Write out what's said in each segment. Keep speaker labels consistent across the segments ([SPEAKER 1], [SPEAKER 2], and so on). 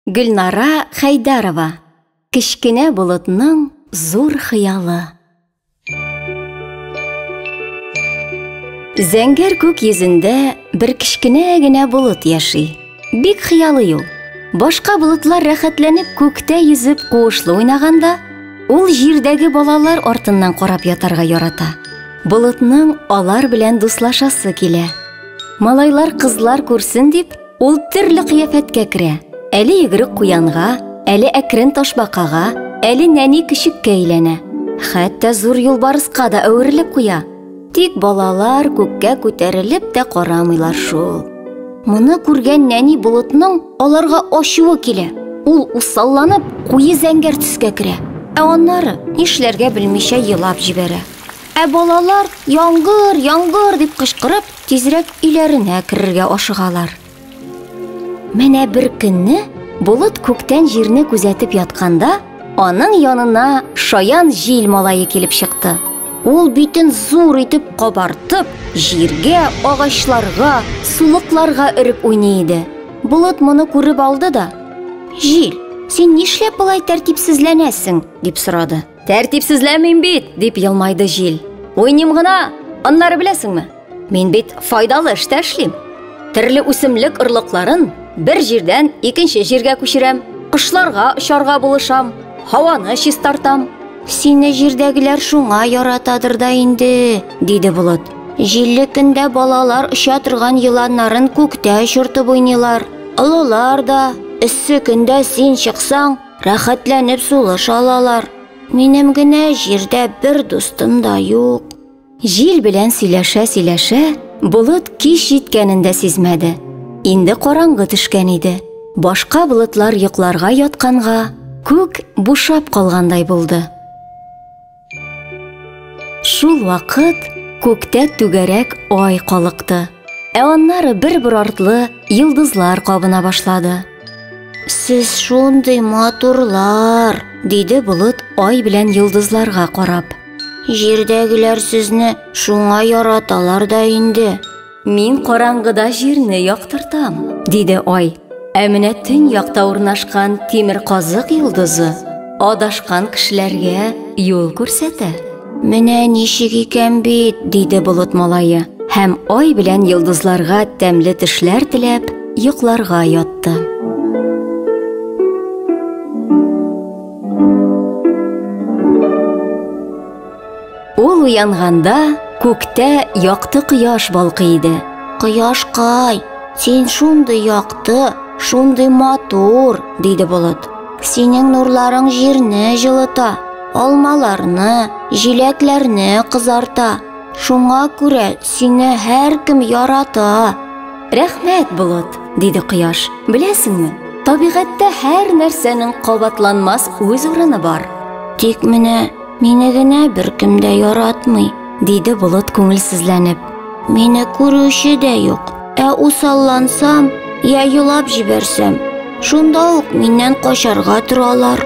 [SPEAKER 1] Гөлнара Хәйдәрова Кечкенә болытның зур хыялы Зәңгәр күк йөзендә бер кечкенә генә болыт яши. Бик хыялый ул. Башка болытлар рәхәтләнеп күктә йөзеп куышлы уйнаганда, ул җирдәге балалар артыннан карап ятарга ярата. Болытның алар белән дуслашасы килә. Малайлар, кызлар күрсен дип, Ул төрле кыяфәткә керә. Әле йөгерек куянга, әле әкрен ташбакага, әле нәни көчеккә әйләнә. Хәтта зур юлбарыска да әверелеп куя. Тик балалар күккә күтәрелеп тә карамыйлар шул. Моны күргән нәни болытның аларга ачуы килә. Ул усалланып, куе зәңгәр төскә керә. Ә аннары нишләргә белмичә елап җибәрә. Ә балалар, яңгыр, яңгыр дип кычкырып, тизрәк өйләренә керергә ашыгалар. Менә бер көнне болыт күктән җирне күзәтеп ятканда, аның янына шаян җил малае килеп чыкты. Ул битен зур итеп кабартып, җиргә, агачларга, сулыкларга өреп уйный иде. Болыт моны күреп алды да, Җил, син нишләп болай тәртипсезләнәсең? дип сорады. Тәртипсезләмим бит, дип елмайды җил. Уйним гына, аннары беләсеңме? Мин бит файдалы эштә эшлим. Төрле үсемлек орлыкларын бер җирдән икенче җиргә күчерәм, кошларга очарга булышам, һаваны чистартам. Сине җирдәгеләр шуңа яратадыр да инде, диде Булат. Җилле көндә балалар оча торган еланнарын күктә очыртып уйныйлар. Олылар да, эссе көндә син чыксаң, Рәхәтләнеп сулыш алалар. Минем генә җирдә бер дустым да юк. Җил белән сөйләшә-сөйләшә, болыт кич җиткәнен дә сизмәде. Инде караңгы төшкән иде. Башка болытлар йокларга ятканга, күк бушап калгандай булды. Шул вакыт күктә түгәрәк ай калыкты. Ә аннары бер-бер артлы йолдызлар кабына башлады. Сез шундый матурлар, диде болыт ай белән йолдызларга карап. Җирдәгеләр сезне шуңа яраталар да инде. Мин караңгыда җирне яктыртам, диде ай. Ә менә төн якта урнашкан тимер казык йолдызы адашкан кешеләргә юл күрсәтә. Менә ничек икән бит, диде болыт малае һәм ай белән йолдызларга тәмле төшләр теләп, йокларга ятты. Ул уянганда күктә якты кояш балкый иде. Кояшкай, син шундый якты, шундый матур, диде болыт. Синең нурларың җирне җылыта, алмаларны, җиләкләрне кызарта. Шуңа күрә сине һәркем ярата. Рәхмәт, болыт, диде кояш. Беләсеңме, табигатьтә һәр нәрсәнең кабатланмас үз урыны бар. Тик менә Мине генә беркем дә яратмый, диде Болыт күңелсезләнеп. Мине күрүче дә юк. Ә усаллансам, я елап җибәрсәм, шунда ук миннән качарга торалар.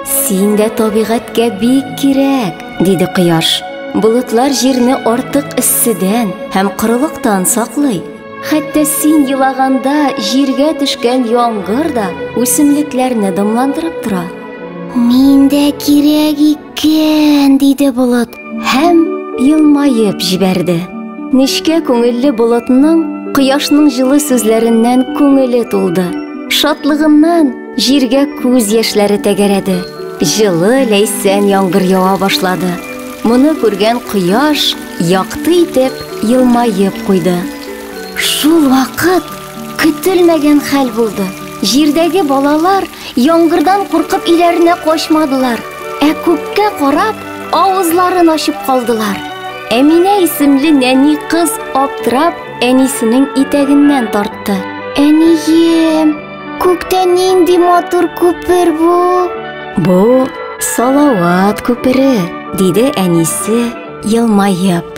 [SPEAKER 1] Син дә табигатькә бик кирәк, диде Кояш. Болытлар җирне артык эсседән һәм корылыктан саклый. Хәтта син елаганда җиргә төшкән яңгыр да үсемлекләрне дымландырып тора. Мин дә кирәк икән, диде болыт һәм елмаеп җибәрде. Нечкә күңелле болытның кояшның җылы сүзләреннән күңеле тулды. Шатлыгыннан җиргә күз яшьләре тәгәрәде. Җылы ләйсән яңгыр ява башлады. Моны күргән кояш якты итеп елмаеп куйды. Шул вакыт көтелмәгән хәл булды. Җирдәге балалар Яңгырдан куркып өйләренә качмадылар, ә күккә карап, авызларын ачып калдылар. Әминә исемле нәни кыз аптырап әнисенең итәгеннән тартты. Әнием, күктә нинди матур күпер бу? Бу Салават күпере, диде әнисе, елмаеп.